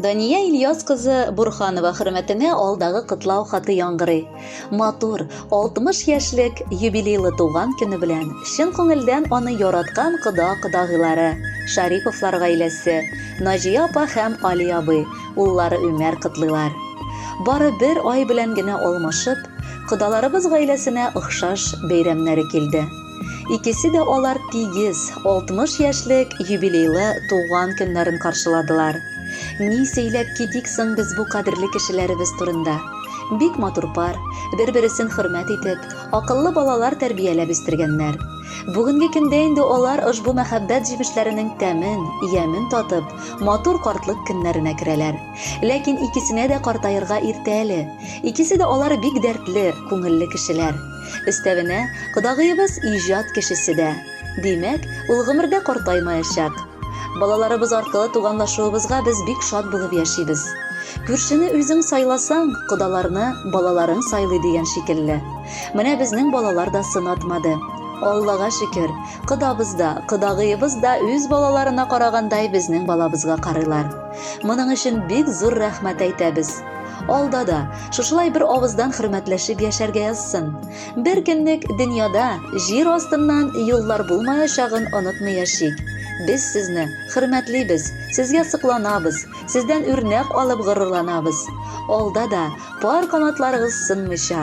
Дания Ильяс кызы Бурханова хөрмәтенә алдагы котлау хаты яңгырый. Матур, 60 яшьлек юбилейлы туган көне белән чын күңелдән аны яраткан кода-кодагыйлары, Шариповлар гаиләсе, Наҗия апа һәм Али абый, уллары Өмәр котлыйлар. Бары бер ай белән генә алмашып, Кодаларыбыз гаиләсенә охшаш бәйрәмнәре килде. Икесе дә алар тигез 60 яшьлек юбилейлы туган көннәрен каршыладылар. Ни сөйләп китик соң без бу кадерле кешеләребез турында? Бик матур пар, бер-бересен хөрмәт итеп, акыллы балалар тәрбияләп үстергәннәр. Бүгенге көндә инде алар ошбу мәхәббәт җимешләренең тәмен, ямен татып, матур картлык көннәренә керәләр. Ләкин икесенә дә картаерга иртә әле. Икесе дә алар бик дәртле, күңелле кешеләр. Өстәвенә, кодагыебыз иҗат кешесе дә. Димәк, ул гомердә картаймаячак. Балаларыбыз аркылы туганлашуыбызга без бик шат булып яшибез. Күршене үзең сайласаң, кодаларны балаларың сайлый дигән шикелле. Менә безнең балалар да сынатмады. Аллага шөкер, кодабыз да, кодагыебыз да үз балаларына карагандай безнең балабызга карыйлар. Моның өчен бик зур рәхмәт әйтәбез. Алда да шушылай бер авыздан хөрмәтләшеп яшәргә язсын. Бер көнлек дөньяда җир астыннан юллар булмаячагын онытмый яшик. Без сезне хөрмәтлибез, сезгә сокланабыз, сездән үрнәк алып горурланабыз. Алда да пар канатларыгыз сынмыйча,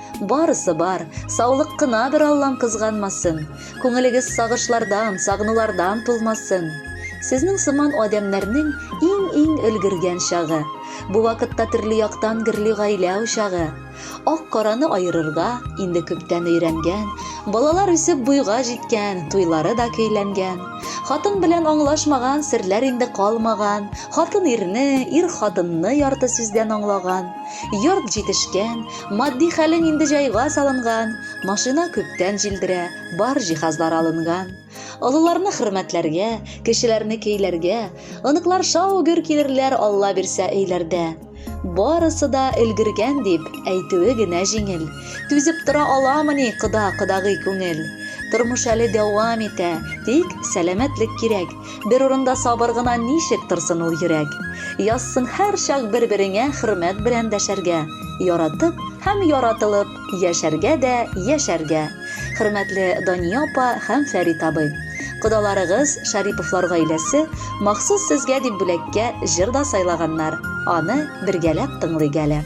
Барысы бар, саулык кына бер Аллам кызганмасын. Күңелегез сагышлардан, сагынулардан тулмасын. Сезнең сыман адәмнәрнең иң-иң өлгергән чагы. Бу вакытта төрле яктан гөрли гаилә учагы. Ак-караны аерырга инде күптән өйрәнгән, балалар үсеп буйга җиткән, туйлары да көйләнгән. Хатын белән аңлашмаган серләр инде калмаган, хатын ирне, ир хатынны ярты сүздән аңлаган. Йорт җитешкән, Матди хәлең инде җайга салынган, машина күптән җилдерә, бар җиһазлар алынган. Олыларны хөрмәтләргә, кечеләрне кейләргә, оныклар шау-гөр килерләр Алла бирсә өйләрдә. Барысы да өлгергән дип әйтүе генә җиңел. Түзеп тора аламыни кода-кодагый күңел? Тормыш әле дәвам итә, тик сәламәтлек кирәк. Бер урында сабыр гына ничек торсын ул йөрәк? Язсын һәрчак бер-береңә хөрмәт белән дәшәргә, яратып һәм яратылып яшәргә дә яшәргә! Хөрмәтле Дания апа һәм Фәрит абый! Кодаларыгыз, Шариповлар гаиләсе, махсус сезгә дип бүләккә җыр да сайлаганнар, аны бергәләп тыңлыйк әле.